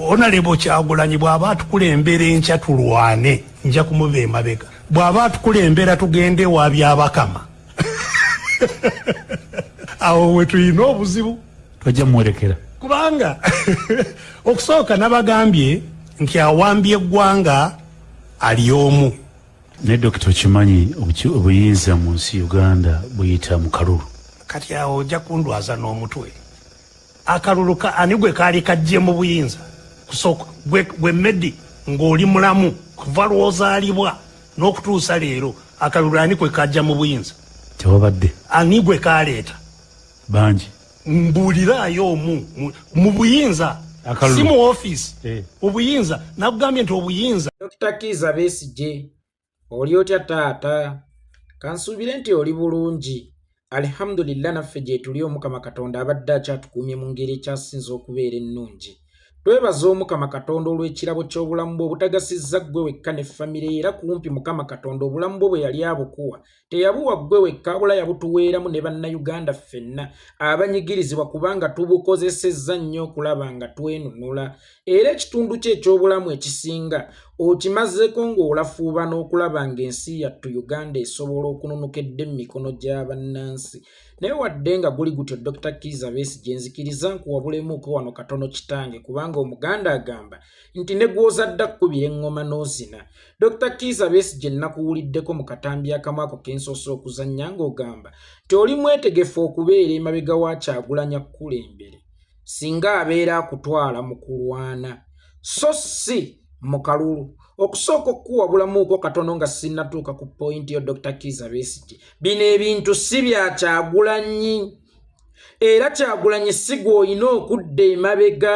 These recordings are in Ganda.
onalebo kyagulanyi bwaba atukulembera enkya tulwane nja kumuva emabega bwaba atukulembera tugende ewa byabakama awo wetulina obuzibu tojja muwerekera kubanga okusooka nabagambye nti awambye eggwanga ali omu naye dokita okimanyi obuyinza mu nsi uganda buyita mu kalulu kati awo ojja kundwaza n'omutwe akalulu ka ani gwe kaali kajje mu buyinza kusooka gwe medi ng'oli mulamu kuva lwozaalibwa n'okutuusa leero akalulu ani kwe kajja mu buyinza tewabadde ani gwe kaleeta bangi mbuuliraayo omu mu buyinza si mu ofiisi eh. obuyinza nakugambye nti obuyinza dr kiza besigye oli otya taata kansuubire nti oli bulungi alihamudulillah naffe gyetuli omukama katonda abadde akyatukuumye mu ngeri ekyasinza okubeera ennungi twebaza omukama katonda olw'ekirabo ky'obulamu bwe obutagasizza ggwe wekka ne famire era kumpi mukama katonda obulamu bwo bwe yali abukuwa teyabuwa ggwe wekka wabula yabutuweeramu ne bannayuganda ffenna abanyigirizibwa kubanga tubukozesezza nnyo okulaba nga twenunula era ekitundu kye eky'obulamu ekisinga okimazeeko ng'olafuuba n'okulaba ng'ensi yattu uganda esobola okununuka edde mu mikono gya bannansi naye wadde nga guli gutyo dr kiza beesi gye nzikiriza nkuwabulemu uko wano katono kitange kubanga omuganda agamba nti ne gw'ozadde akkubira eŋŋoma n'ozina dr kiiza besi gye nnakuwuliddeko mu katambi akamu ako ke nsoose okuzannya ng'ogamba nti oli mwetegefu okubeera emabega wa kyagulanya kukulembere singa abeera akutwala mu kulwana so si mu kalulu okusooka okukuwabulamuuko katono nga sinnatuuka ku pointi yo dr kiiza besigi bino ebintu si bya kyagulanyi era kyagulanyi si gw'olina okudda emabega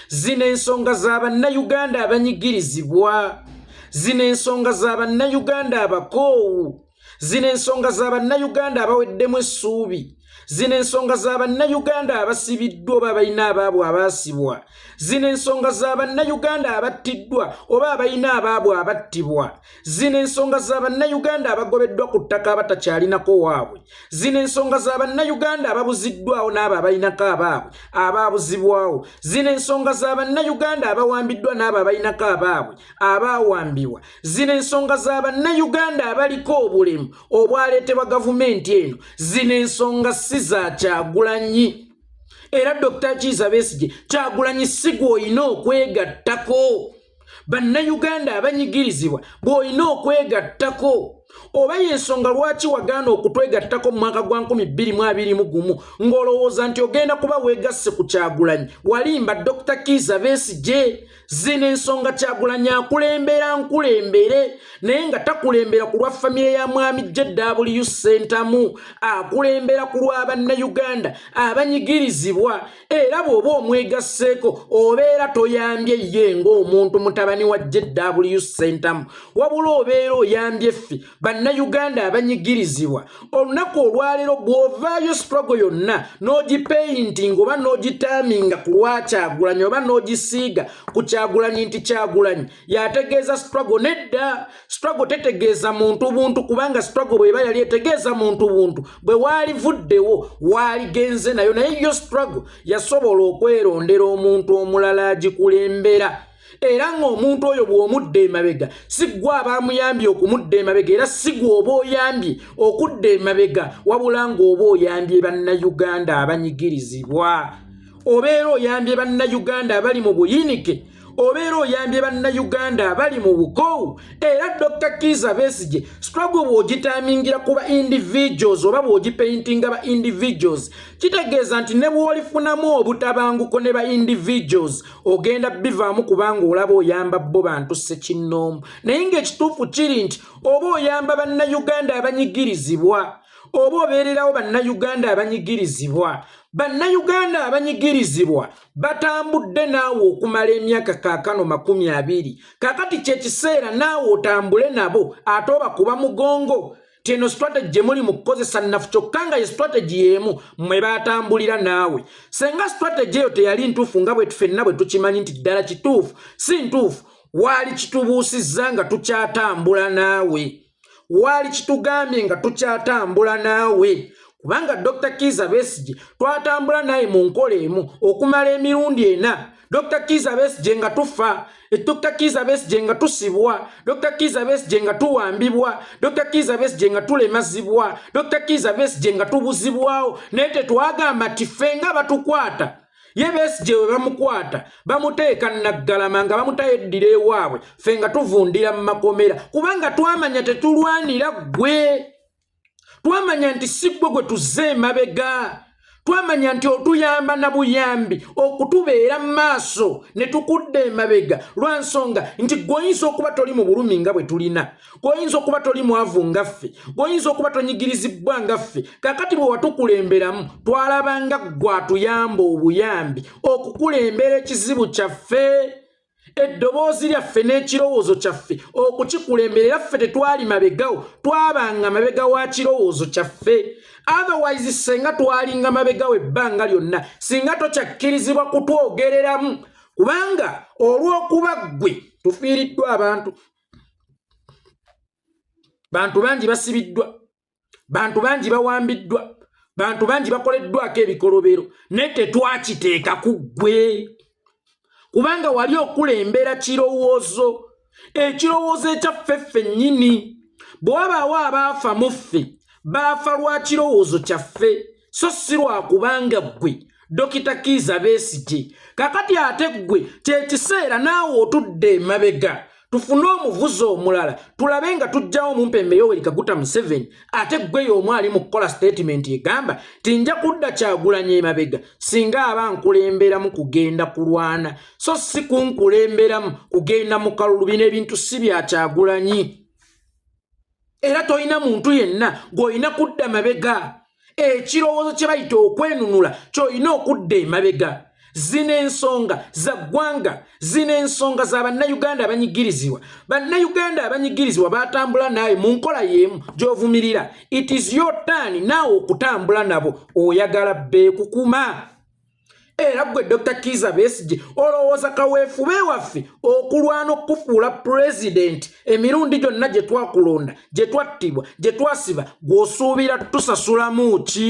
zino ensonga za bannayuganda abanyigirizibwa zino ensonga za bannayuganda abakoowu zino ensonga za bannayuganda abaweddemu essuubi zino ensonga za bannayuganda abasibiddwa oba abalina abaabwe abaasibwa zino ensonga za bannayuganda abattiddwa oba abalina abaabwe abattibwa zino ensonga za bannayuganda abagobeddwa ku ttaka abatakyalinako waabwe zino ensonga za bannayuganda ababuziddwawo n'abo abalinako abaabwe abaabuzibwawo zino ensonga za bannayuganda abawambiddwa n'abo abalinako abaabwe abaawambibwa zino ensonga za bannayuganda abaliko obulemu obwaleetebwa gavumenti eno zino ensonga si za kyagulanyi era dokita kiiza besigye kyagulanyi sigwa olina okwegattako bannayuganda abanyigirizibwa bw'olina okwegattako oba y'ensonga lwaki wagaana okutwegattako mu mwaka gwa 221 gumu ng'olowooza nti ogenda kuba weegasse ku kyagulanyi walimba dr kiiza besigye zino ensonga kyagulanyi akulembera nkulembere naye nga takulembera ku lwa famire ya mwami jw sentamu akulembera ku lwa bannayuganda abanyigirizibwa era bw'oba omwegasseeko obeera toyambye ye ng'omuntu mutabani wa jw sentamu wabula obeera oyambye ffe bannayuganda abanyigirizibwa olunaku olwaleero bw'ovaayo strogo yonna n'ogipeyintinga oba n'ogitaaminga ku lwakyagulanyi oba n'ogisiiga ku kyagulanyi nti kyagulanyi yategeeza strogo nedda struggle tetegeeza muntu buntu kubanga struggle bweba yali etegeeza muntu buntu bwe waalivuddewo waaligenze nayo naye yo struggle yasobola okwerondera omuntu omulala agikulembera era ng'omuntu oyo bw'omudda emabega siggwa abaamuyambye okumudda emabega era sigwa oba oyambye okudda emabega wabula ng'oba oyambye bannayuganda abanyigirizibwa obeera oyambye bannayuganda abali mu buyinike obeera oyambye bannayuganda abali mu bukoowu era dr kiiza besigye struggle bw'ogitamingira ku ba individuals oba bw'ogipaintinga ba individuals kitegeeza nti ne bw'olifunamu obutabanguko ne ba individuals ogenda bivaamu kubanga olaba oyamba bo bantu sekinnoomu naye ng'ekituufu kiri nti oba oyamba bannayuganda abanyigirizibwa oba obeererawo bannayuganda abanyigirizibwa bannayuganda abanyigirizibwa batambudde naawe okumala emyaka kaakano makumi abiri kakati kyekiseera naawe otambule nabo ate oba kuba mugongo tino strategy gyemuli mu kukozesa nnafu kyokka nga ye strategy y'emu mwe batambulira naawe senga strategy eyo teyali ntuufu nga bwetufenna bwe tukimanyi nti ddala kituufu si ntuufu waali kitubuusizza nga tukyatambula naawe waali kitugambye nga tukyatambula naawe kubanga dr kiiza besigye twatambula naye mu nkola emu okumala emirundi ena dr kiiza besigye nga tufa dr kiiza besigye nga tusibwa dr kiiza besigye nga tuwambibwa dr kiiza besigye nga tulemazibwa dr kiiza besigye nga tubuzibwawo naye tetwagamba ti ffe nga batukwata ye besigye we bamukwata bamuteeka naggalama nga bamutayo eddira ewaabwe ffe nga tuvundira mu makomera kubanga twamanya tetulwanira ggwe twamanya nti si ggwe gwe tuzze emabega twamanya nti otuyamba na buyambi okutubeera mu maaso ne tukudda emabega lwa nsonga nti gweoyinza okuba toli mu bulumi nga bwe tulina gwoyinza okuba toli mwavu nga ffe gwoyinza okuba tonyigirizibbwa nga ffe kakati bwe watukulemberamu twalabanga gwatuyamba obuyambi okukulembera ekizibu kyaffe eddoboozi lyaffe n'ekirowoozo kyaffe okukikulembera era ffe tetwali mabegawo twabanga mabega wa kirowoozo kyaffe otherwise senga twalinga mabegawo ebbanga lyonna singa tokyakkirizibwa kutwogereramu kubanga olw'okuba ggwe tufiiriddwa abantu bantu bangi basibiddwa bantu bangi bawambiddwa bantu bangi bakoleddwako ebikolobero naye tetwakiteeka ku ggwe kubanga wali okulembera kirowoozo ekirowoozo ekyaffe ffe nnyini bwe wabaawo abaafa mu ffe baafa lwa kirowoozo kyaffe so si lwa kubanga ggwe dokita kiiza besigye kakati ate ggwe kyekiseera naawe otudde emabega tufune omuvuzi omulala tulabe nga tujjawo omumpembe yoweri kaguta museveni ate ggweyo omu ali mu kukola sitatimenti egamba ti nja kudda kyagulanya emabega singa aba nkulemberamu kugenda kulwana so si kunkulemberamu kugenda mu kalulu bino ebintu si byakyagulanyi era tolina muntu yenna gw'olina kudda mabega ekirowoozo kye bayita okwenunula ky'olina okudda emabega zino ensonga za ggwanga zino ensonga za bannayuganda abanyigirizibwa bannayuganda abanyigirizibwa batambula naawe mu nkola y'emu gy'ovumirira it is your turn naawe okutambula nabo oyagala beekukuma era gwe dr kiza besigye olowooza kaweefube waffe okulwana okukufuula pulezidenti emirundi gyonna gye twakulonda gye twattibwa gye twasiba gw'osuubira tusasulamu ki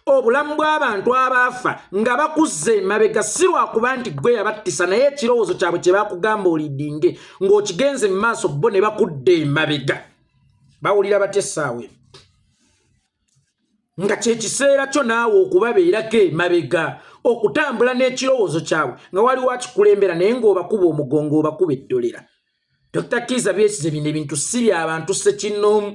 obulamu bw'abantu abaafa nga bakuzza emabega si lwakuba nti gwe yabattisa naye ekirowoozo kyabwe kye bakugamba olidinge ng'okigenze mu maaso bo ne bakudda emabega bawulira batya essaawa eno nga kyekiseera kyo naawe okubabeerako emabega okutambula n'ekirowoozo kyabwe nga waliwo akikulembera naye ng'obakuba omugongo obakuba eddolera dr kiiza byesize bino ebintu si byabantu sekinnoomu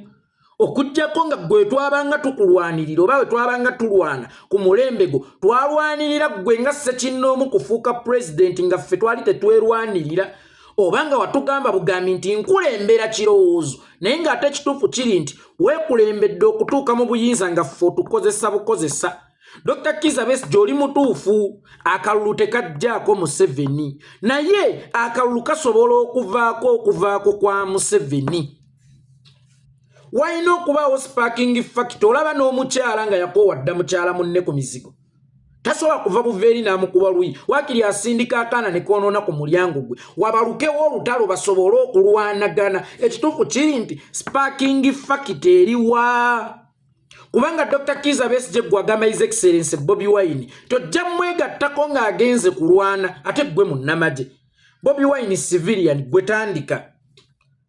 okujjako nga gwe twabanga tukulwanirira oba we twabanga tulwana ku mulembe gwo twalwanirira ggwe nga sekinnoomu kufuuka pulezidenti nga ffe twali tetwerwanirira oba nga watugamba bugambi nti nkulembera kirowoozo naye ng'ate ekituufu kiri nti weekulembedde okutuuka mu buyinza nga ffe otukozesa bukozesa dr kiza besi gyoli mutuufu akalulu tekajjaako museveni naye akalulu kasobola okuvaako okuvaako kwa museveni walina okubaawo sparking fact olaba n'omukyala nga yakoowa dda mukyala munne ku mizigo tasobola kuva buva eri n'amukuba luyi wakiri asindika akaana ne koonoona ku mulyango gwe wabalukewo olutalo basobole okulwanagana ekituufu kiri nti sparking fakit eriwa kubanga dr kiza besije gwe agamba his excellence bobi wine tojja mwegattako ng'agenze kulwana ate gwe munnamagye bobi wine civilian gwe tandika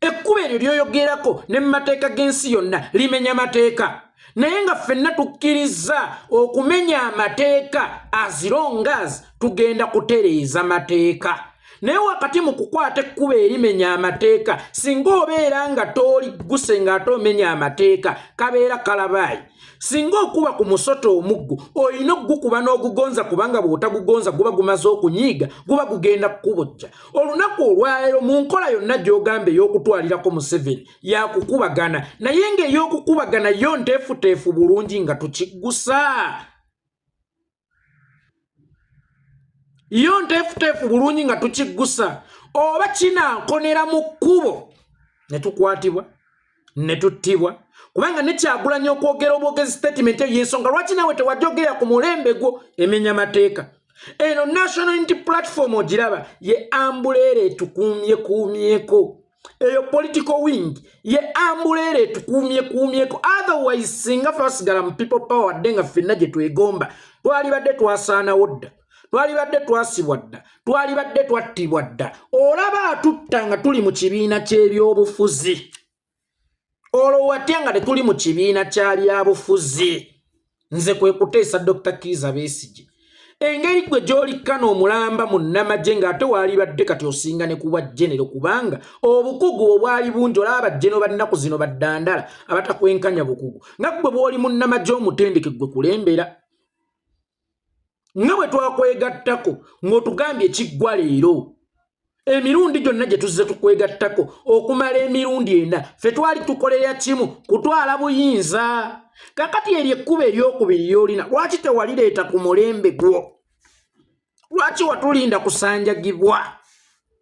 ekkuba eryo lyoyogerako ne mu mateeka g'ensi yonna limenya mateeka naye nga ffenna tukkiriza okumenya amateeka azirongas tugenda kutereeza mateeka naye wakati mu kukwata ekkuba erimenya amateeka singa obeera nga toligguse ng'ate omenya amateeka kabeera kalabaayi singa okuba ku musota omuggo olina okugukuba n'ogugonza kubanga bw'otagugonza guba gumaze okunyiiga guba gugenda kukubojja olunaku olwaleero mu nkola yonna gy'ogamba ey'okutwalirako museveni yakukubagana naye ng'ey'okukubagana yo nteefuteefu bulungi nga tukiggusa yo nteefuteefu bulungi nga tukiggusa oba kinankonera mu kkubo ne tukwatibwa ne tuttibwa kubanga nekyagulanya okwogera obwogezi statement eyo yensonga lwaki nawe tewajogera ku mulembe gwo emenya mateeka eno national unity platform ogiraba ye ambuleera etukuumyekuumyeko eyo political wing ye ambuleera etukuumye kuumyeko otherwise singa twasigala mu people power dde nga ffenna gye twegomba twalibadde twasaanawo dda twalibadde twasibwa dda twalibadde twattibwa dda olaba atutta nga tuli mu kibiina ky'ebyobufuzi olwo watya nga tetuli mu kibiina kya byabufuzi nze kwe kuteesa dr kiiza besigye engeri gwe gyolikkana omulamba mu nnamagye ng'ate waalibadde kati osinga ne kuba genero kubanga obukugu obwali bungi olaba bajeno bannaku zino baddandala abatakwenkanya bukugu nga ggwe bw'oli mu nnamagye omutendeke ggwe kulembera nga bwe twakwegattako ng'otugambye ekiggwa leero emirundi gyonna gye tuzze tukwegattako okumala emirundi ena ffe twali tukolera kimu kutwala buyinza kakati eryo ekkuba eryokubiri lyolina lwaki tewalireeta ku mulembe gwo lwaki watulinda kusanjagibwa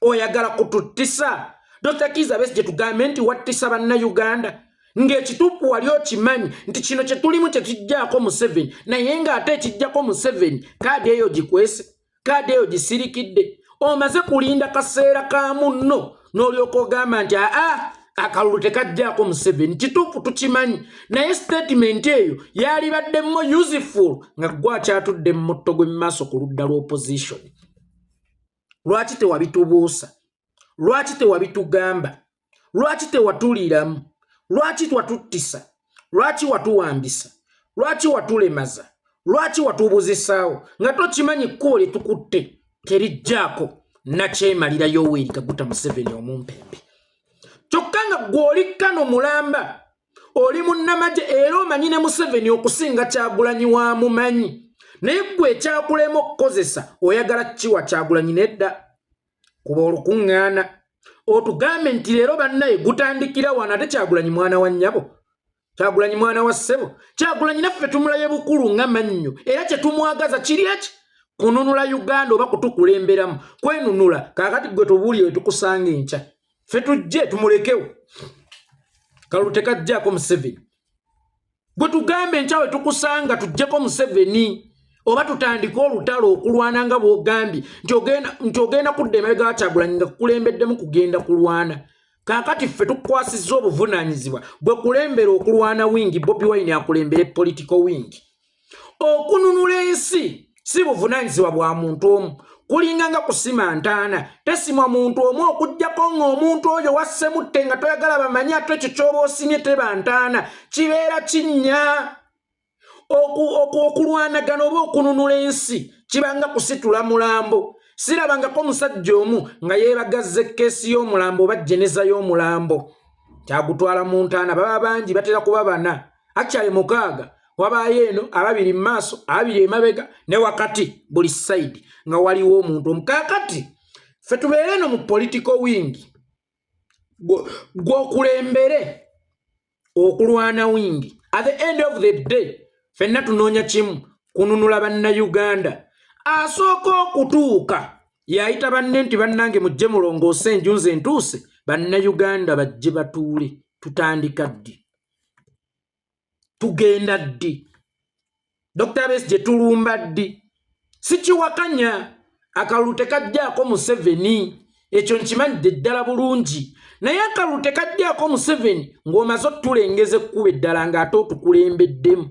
oyagala kututtisa dr kiza besi gyetugambe nti wattisa bannayuganda ng'ekituufu wali okimanyi nti kino kye tulimu kye kijjako museveni naye ng'ate ekijjako museveni kaadi eyo gikwese kaadi eyo gisirikidde omaze kulinda kaseera ka munno n'olyoka ogamba nti aa akalulu tekajjako museveni kituufu tukimanyi naye sitatimenti eyo yalibaddemu useful nga gwakyatudde mu mutto gw'emumaaso ku ludda lw'opposition lwaki tewabitubuusa lwaki tewabitugamba lwaki tewatuliiramu lwaki twatuttisa lwaki watuwambisa lwaki watulemaza lwaki watubuzisaawo nga tokimanyi kkubo lye tukutte terijjaako nakyemalira yoweri kaguta museveni omumpembe kyokka nga gweoli kano mulamba oli munnamagye era omanyi ne museveni okusinga kyagulanyi wa mumanyi naye gwe ekyakulema okukozesa oyagala kiwa kyagulanyi nedda kuba olukuŋŋaana otugambe nti leero bannaye gutandikira wano ate kyagulanyi mwana wa nnyabo kyagulanyi mwana wa ssebo kyagulanyi naffe tumulaye bukulu nga mannyo era kye tumwagaza kiri eki kununula uganda oba kutukulemberamu kwenunula kakati gwe tubuulire wetukusanga enkya ffe tujje tumulekewo kalulu tekajjako museveni gwe tugambe nkyawe tukusanga tujjeko museveni oba tutandike olutalo okulwana nga bwogambye nti ogenda kudda emabega wakyagulanyi nga kukulembeddemu kugenda kulwana kakati ffe tukwasizza obuvunanyizibwa bwe kulembera okulwana wingi bobi wine akulembere political wingi okununula ensi si buvunanyizibwa bwa muntu omu kulinga nga kusima ntaana tesimwa muntu omu okujjako ng'omuntu oyo wassemutte nga toyagala bamanye ate ekyo kyoba osimye teba ntaana kibeera kinnya okulwanagana oba okununula ensi kibanga kusitula mulambo sirabangako omusajja omu nga yeebagazza ekkeesi y'omulambo oba jeneza y'omulambo kyagutwala mu ntaana baba bangi batera kuba bana akyali mukaaga wabaayo eno ababiri mu maaso ababiri emabega ne wakati buli sayidi nga waliwo omuntu omukakati fe tubeere eno mu politiko wingi gwokulembere okulwana wingi at the end of the day fenna tunoonya kimu kununula bannayuganda asooka okutuuka yayita banne nti bannange mujje mulongoose enju nze ntuuse bannayuganda bajje batuule tutandika ddi tugenda ddi dr bes gye tulumba ddi sikiwakanya akalulu tekajjaako museveni ekyo nkimanyidde ddala bulungi naye akalulu tekajjaako museveni ng'omaze otulengeza ekkuba eddala ng'ate otukulembeddemu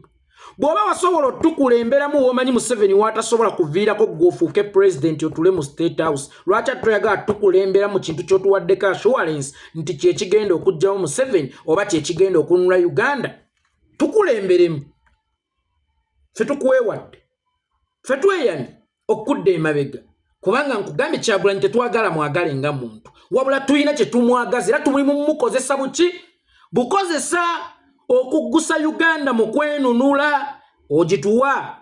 bw'oba wasobola otukulemberamu womanyi museveni watasobola kuviirako gweofuuke pulezidenti otule mu state house lwaki atoyagala tukulembera mu kintu kyotuwaddeko assurance nti kyekigenda okugjawo museven oba kyekigenda okunula uganda tukulemberemu fe tukwewadde fe tweyamye okudda emabega kubanga nkugambye kyagulanyi tetwagala mwagale nga muntu wabula tulina kyetumwagaza era tumulimu mumukozesa buki bukozesa okuggusa uganda mu kwenunula ogituwa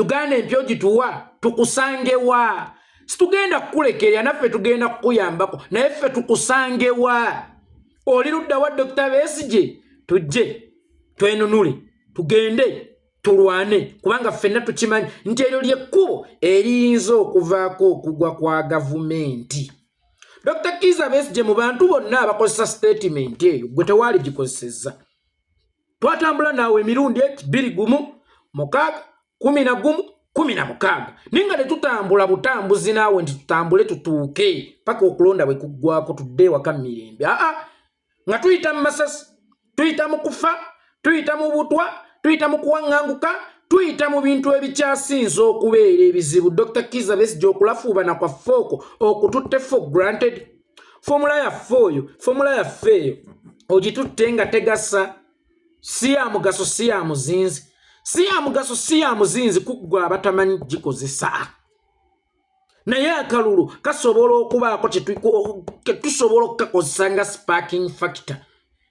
uganda empya ogituwa tukusangewa situgenda kukulekerera naffe tugenda kukuyambako naye ffe tukusangewa oli ludda wa dokita besije tujje twenunule tugende tulwane kubanga ffenna tukimanyi nti eryo lyekkubo eriyinza okuvaako okugwa kwa gavumenti dr kiza besije mu bantu bonna abakozesa sitatimenti eyo gwe tewaali gikozesezza twatambula naawe emirundi eki biri gumu mukaaga kumi na gumu kumi na mukaaga naye nga tetutambula butambuzi naawe nti tutambule tutuuke paka okulonda bwe kuggwako tudde ewaka mumirembe aa nga tuyita mu masasi tuyita mu kufa tuyita mu butwa tuyita mu kuwaŋŋanguka tuyita mu bintu ebikyasinza okubeera ebizibu dr kiza besija okulafuubana kwaffe okwo okututte for granted fomula yaffe oyo fomula yaffe eyo ogitutte nga tegasa si ya mugaso si ya muzinzi si ya mugaso si ya muzinzi kuggwa abatamanyi gikozesa naye akalulu kasobola okubaako ketusobola okukakozesa nga sparking factor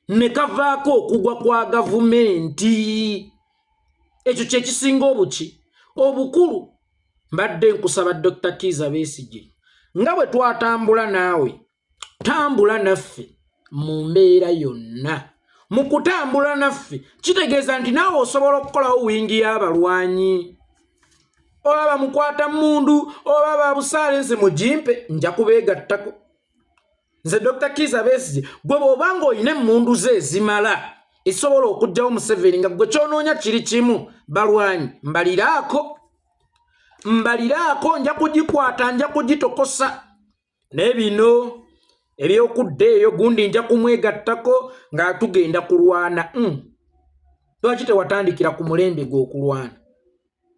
ne kavaako okugwa kwa gavumenti ekyo kyekisinga obuki obukulu mbadde nkusaba dr kiiza besigye nga bwe twatambula naawe tambula naffe mu mbeera yonna mu kutambula naffe kitegeeza nti naawe osobola okukolawo wingi y'abalwanyi oba bamukwata mundu oba babusaalensi mugimpe nja kubeegattako nze dr kiza besigye gwe bwoba nga olina emmundu ze ezimala esobola okugjawo museveni nga gwe kyonoonya kiri kimu balwanyi mbaliraako mbaliraako nja kugikwata nja kugitokosa naye bino ebyokudda eyo gundi nja kumwegattako nga tugenda kulwana hmm. lwaki tewatandikira ku mulembe gweokulwana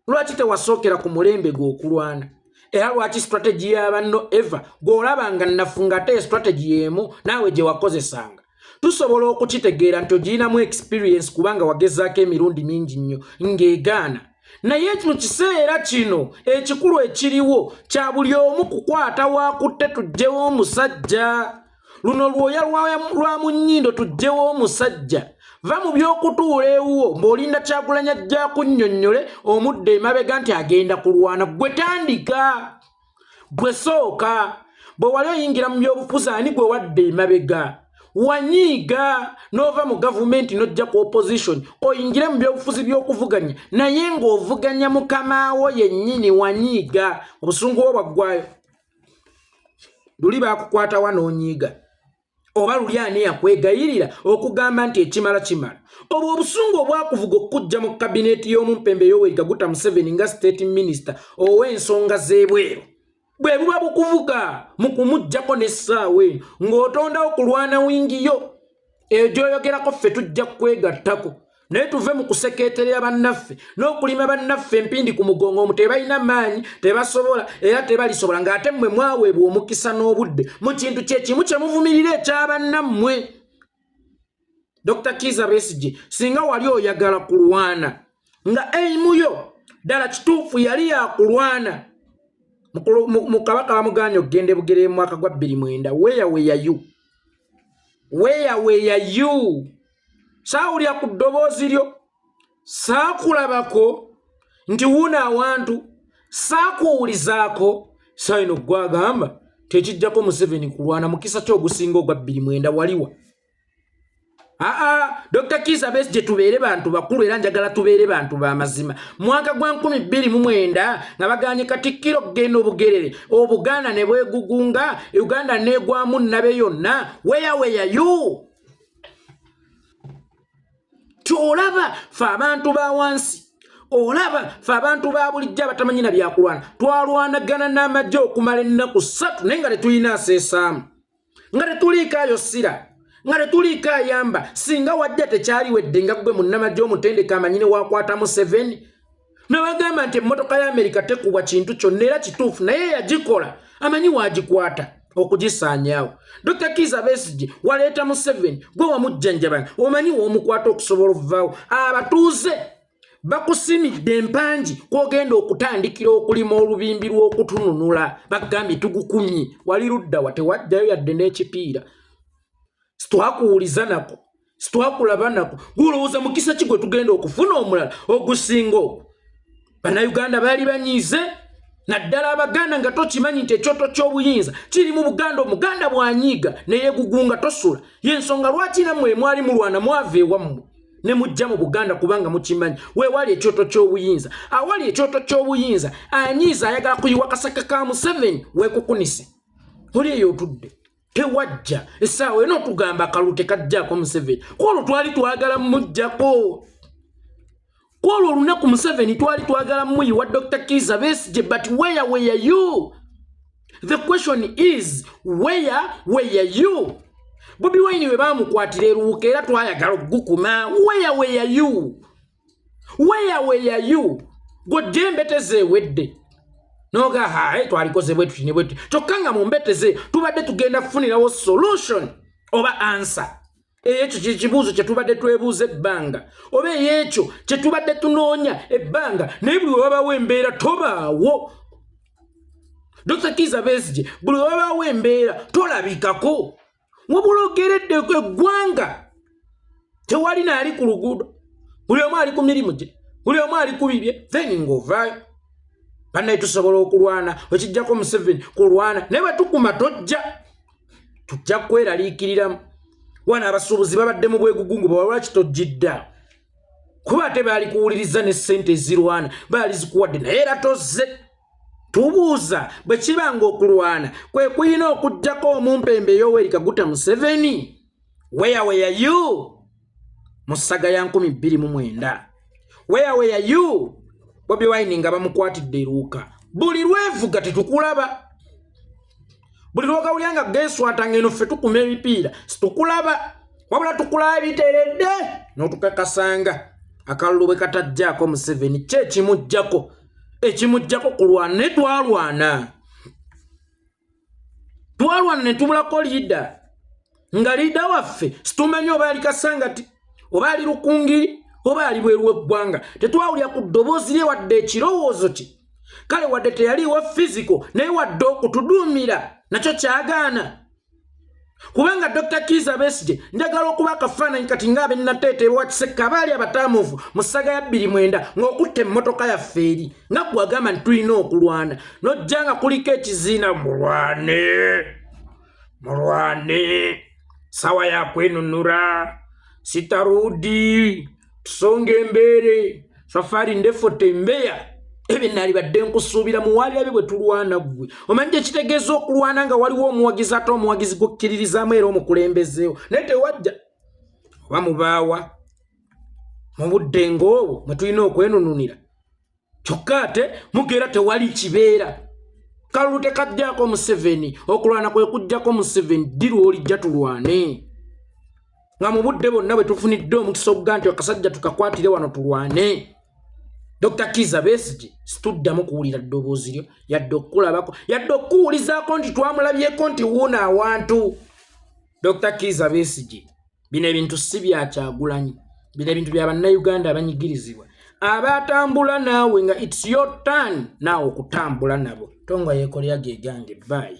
lwaki tewasookera ku mulembe gw'okulwana era lwaki strategy yabanno ever gw'olaba nga nafunga ate strategy y'emu naawe gye wakozesanga tusobola okukitegeera nti ogirinamu experience kubanga wagezaako emirundi mingi nnyo ng'egaana naye mu kiseera kino ekikulu ekiriwo kya buli omu kukwata wakutte tugyewo omusajja luno lwoya lwa mu nnyindo tujjewo omusajja va mu by'okutuula ewuwo ng'olinda kyagulanya jja kunnyonnyole omudde emabega nti agenda kulwana gwe tandika gwe sooka bwe wali oyingira mu by'obufuzi ani gwe wadde emabega wanyiiga n'ova mu gavumenti n'ojja ku opposition oyingire mu byobufuzi by'okuvuganya naye ng'ovuganya mukama wo yennyini wanyiiga obusungu bwo bwaggwayo luli bakukwata wa n'onyiiga oba luli ani yakwegayirira okugamba nti ekimala kimala obwo obusungu obwakuvuga okukujja mu kabineeti y'omumpembe yowerika guta museveni nga state minisita ow'ensonga z'ebweru bwe buba bukuvuga mu kumuggyako n'essaawa eno ng'otondawo kulwana wingiyo eyo gyoyogerako ffe tujja kwegattako naye tuve mu kusekeeterera bannaffe n'okulima bannaffe empindi ku mugongo omu tebalina maanyi tebasobola era tebalisobola ng'ate mmwe mwaweebwa omukisa n'obudde mu kintu kye kimu kye muvumirira ekya bannammwe dr kiza besigi singa wali oyagala kulwana nga eimu yo ddala kituufu yali yakulwana mu kabaka bamuganya okugenda ebugere mu mwaka gwa bbiri mwenda weyaweyayu weya weya you saawulira ku ddoboozi lyo saakulabako nti wuuna awantu saakuwulizaako saino gwagamba tekijjako museveni kulwana mukisa kyogusinga ogwa bbiri mwenda waliwa aa dr kisa besi gye tubeere bantu bakulu era njagala tubeere bantu ba mazima mwaka gwa 229 nga baganye katikkiro kugenda obugerere obuganda ne bwegugunga uganda negwamu nabe yonna weyaweya yu kyolaba fe abantu ba wansi olaba fe abantu ba bulijjo abatamanyi na byakulwana twalwanagana n'amagye okumala ennaku ssatu naye nga tetulina aseesaamu nga tetuliikaayo ssira nga tetuliiko ayamba singa wadde tekyaliwedde nga gwe munnamagye omutendeka amanyine wakwata museveni nabagamba nti emmotoka ya amerika tekubwa kintu kyonna era kituufu naye yagikola amanyi waagikwata okugisaanyaawo dr kiza besigye waleeta museveni gwe wamujjanjabana omanyi woomukwata okusobola okuvaawo abatuuze bakusimidde empangi kwogenda okutandikira okulima olubimbi lw'okutununula bagambye tugukumye wali ludda wa tewajjayo yadde n'ekipiira sitwakuwuliza nako sitwakulaba nako gulowooza mukisa ki gwe tugenda okufuna omulala ogusinga ogwo bannayuganda baali banyiize naddala abaganda nga tokimanyi nti ekyoto ky'obuyinza kiri mu buganda omuganda bwanyiiga neyegugunga tosula y'ensonga lwaki namwe mwali mulwana mwava ewammwe ne mujja mu buganda kubanga mukimanyi weewali ekyoto ky'obuyinza awali ekyoto ky'obuyinza anyiiza ayagala kuyiwa kasaka ka museveni weekukunise oli eyo otudde tewajja essaawa ena okugamba akalulu tekajjako museveni kwolwo twali twagala mujjako kwolwo olunaku museveni twali twagala muyiwa dr kiza besije but weya weya you the question is where where you bobi wine we bamukwatira eruwuka era twayagala okugukuma where where you where where you godde mbeteze ewedde noga hae twalikoze bwetuti ne bwetuti kyokka nga mu mbeteze tubadde tugenda kufunirawo solution oba answer ekyo kyekibuuzo kyetubadde twebuuza ebbanga oba eyekyo kyetubadde tunoonya ebbanga naye buli wewabawo embeera tobaawo dr kiza besige buli wewabawo embeera tolabikako wabula ogeredde eggwanga tewali naali ku luguudo buli omu ali ku mirimu gye buli omu ali ku bibye then ngaovaayo banaye tusobola okulwana wekijjako museveni kulwana naye bwetukuma tojja tujja kweraliikiriramu wana abasuubuzi babadde mu bwegugungu bawalwaki tojjidda kuba ate baali kuwuliriza ne ssente ezirwana baali zikuwadde naye era tozze tubuuza bwe kiba ng'okulwana kwe kuyina okugyako omumpembe yoweeri kaguta museveni where were you mu ssaga ya nkumi bbiri mu mwenda where were you bobi wine nga bamukwatidde eruuka buli lwevuga tetukulaba buli lwogawulya nga geswata ngeno ffe tukuma ebipiira situkulaba wabula tukulaba biteredde notukakasanga akalulu bwe katajjaako museveni kyekimugjako ekimujjako kulwana etwalwana twalwana ne tubulako liida nga liida waffe situmanyi oba yali kasangati oba ali lukungiri oba ali bweru weggwanga tetwawulira ku ddoboozi lye wadde ekirowoozo kye kale wadde teyaliiwa fiziko naye wadde okutuduumira nakyo kyagaana kubanga dr kiza besije njagala okuba akafaananyi kati nga abenateeta ewakisekka abaali abataamuvu mu ssaga ya bbiri mwenda ng'okutta emmotoka yaffe eri nga gwe agamba nti tulina okulwana nojja nga kuliko ekiziina mulwane mulwane sawa yakwenunura sitarudi tusonga embeere safari ndefu tembeya ebyo nali badde nkusuubira muwalirabe bwe tulwana gwe omanyi kyekitegeeza okulwana nga waliwo omuwagizi ate omuwagizi gukkiririzaamu era omukulembezeewo naye tewajja oba mubaawa mu budde ngaobwo mwe tulina okwenununira kyokka ate mugeera tewali kibeera kalulu tekajjako museveni okulwana kwe kujjako museveni ddi lwolijja tulwane nga mu budde bonna bwe tufunidde omukisa okuga nti akasajja tukakwatire wano tulwane dr kiza besigi situddamu kuwulira ddoboozi lyo yadde okukulabako yadde okukuwulizaako nti twamulabyeko nti wuuna awantu dr kiza besigi bino ebintu si bya kyagulanyi bino ebintu bya bannayuganda abanyigirizibwa abatambula naawe nga its your turn naawe okutambula nabo tonga yekolera gegange bayi